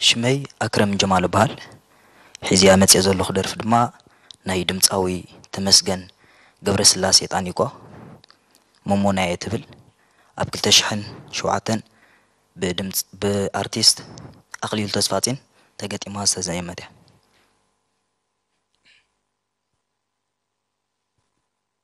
ሽመይ ኣክረም ጀማል እበሃል ሒዚያ መጽየ ዘለኩ ደርፊ ድማ ናይ ድምጻዊ ተመስገን ገብረስላሴ ጣኒቆ ሞሞናየ ትብል ኣብ ክልተ ሽሕን ሸውዓተን ብኣርቲስት ኣክሊሉ ተስፋጼን ተገጢማ ዝተዘየመት እያ።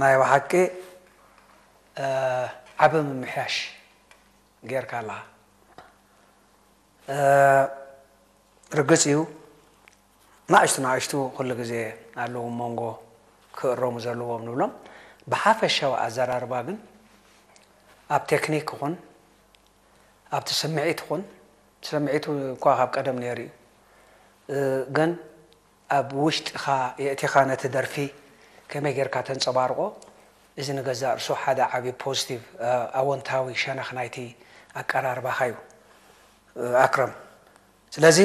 ናይ በሓቂ ዓቢ ምምሕያሽ ጌርካ ኣለኻ። ርግጽ እዩ ናእሽቱ ናእሽቱ ኩሉ ግዜ ኣለዉ ሞንጎ ክእረሙ ዘለዎም ንብሎም። ብሓፈሻዊ ኣዘራርባ ግን ኣብ ቴክኒክ ይኹን ኣብቲ ስምዒት ይኹን ስምዒቱ እኳ ካብ ቀደም ነይሩ እዩ ግን ኣብ ውሽጥኻ የእቲኻ ነቲ ደርፊ ከመይ ጌርካ ተንጸባርቖ፣ እዚ ንገዛእ ርእሱ ሓደ ዓቢ ፖዝቲቭ፣ ኣወንታዊ፣ ሸነኽ ናይቲ ኣቀራርባኻ እዩ ኣክረም። ስለዚ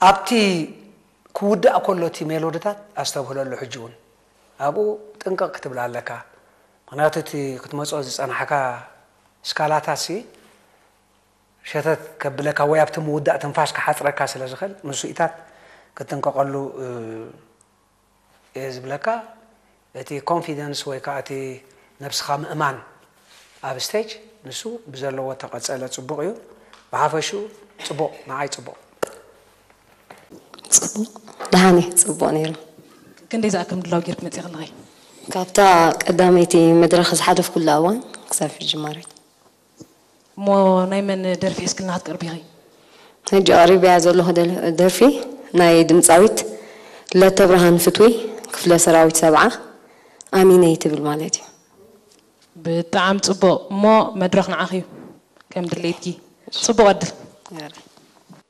ኣብቲ ክውዳእ ከሎ እቲ ሜሎድታት ኣስተብህለሉ ሕጂ እውን ኣብኡ ጥንቅቕ ክትብል ኣለካ ምኽንያቱ እቲ ክትመጾ ዝጸናሕካ ስካላታትሲ ሸተት ከብለካ ወይ ኣብቲ ምውዳእ ትንፋስ ክሓጽረካ ስለ ዝኽእል ንሱኢታት ክትጥንቀቐሉ እየ ዝብለካ። እቲ ኮንፊደንስ ወይ ከኣ እቲ ነብስኻ ምእማን ኣብ ስቴጅ ንሱ ብዘለዎ ተቐጸለ ጽቡቕ እዩ። ብሓፈሽኡ ጽቡቕ ንዓይ ጽቡቕ። ጽቡቕ ደሓን እዩ ጽቡቕ ነይሩ። ክንደይ ዝኣክል ምድላው ጌርኪ መጺኺ ኣለኺ? ካብታ ቀዳመይቲ መድረኽ ዝሓለፍኩላ እዋን ክሳብ ሕጂ ማለት። እሞ ናይ መን ደርፊ ሒዝክልና ክትቀርቢ ኢኺ? ሕጂ ኣቕሪበያ ዘለኹ ደርፊ ናይ ድምጻዊት ለተብርሃን ፍትዊ፣ ክፍለ ሰራዊት ሰብዓ፣ ኣሚነይ ትብል ማለት እዩ። ብጣዕሚ ጽቡቕ እሞ መድረኽ ንዓኺ እዩ ከም ድሌትኪ። ጽቡቕ ዕድል።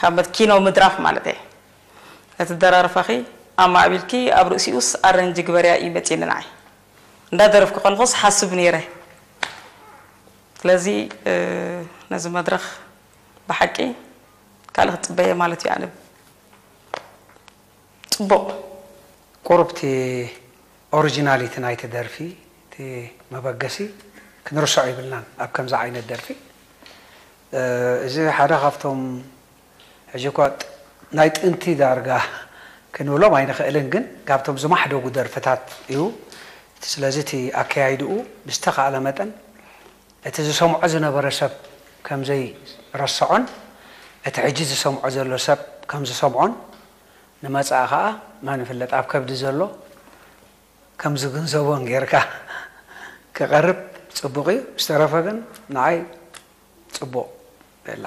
ካብ ኪኖ ምድራፍ ማለተይ እቲ ደራርፋኺ ኣማዕቢልኪ ኣብ ርእሲኡስ ኣረንጂ ግበርያ እዩ መጺኒ ንዓይ እንዳ ደረፍኪ ኮንኹስ ሓስብ ኔረ ስለዚ ነዚ መድረኽ ብሓቂ ካልእ ክትጽበየ ማለት እዩ ኣነ ጽቡቕ ቁሩብ እቲ ኦርጂናሊቲ ናይቲ ደርፊ እቲ መበገሲ ክንርሶዖ ይብልናን ኣብ ከምዚ ዓይነት ደርፊ እዚ ሓደ ካብቶም ሕጂ እኳ ናይ ጥንቲ ዳርጋ ክንብሎም ኣይንኽእልን ግን ካብቶም ዝማሕደጉ ደርፍታት እዩ ስለዚ እቲ ኣከያይድኡ ብዝተኻእለ መጠን እቲ ዝሰምዖ ዝነበረ ሰብ ከምዘይ ረሰዖን እቲ ሕጂ ዝሰምዖ ዘሎ ሰብ ከምዝሰምዖን ንመጻኢ ከኣ መን ይፍለጥ ኣብ ከብዲ ዘሎ ከም ዝግንዘቦን ጌርካ ክቀርብ ጽቡቅ እዩ ዝተረፈ ግን ንዓይ ጽቡቅ የላ።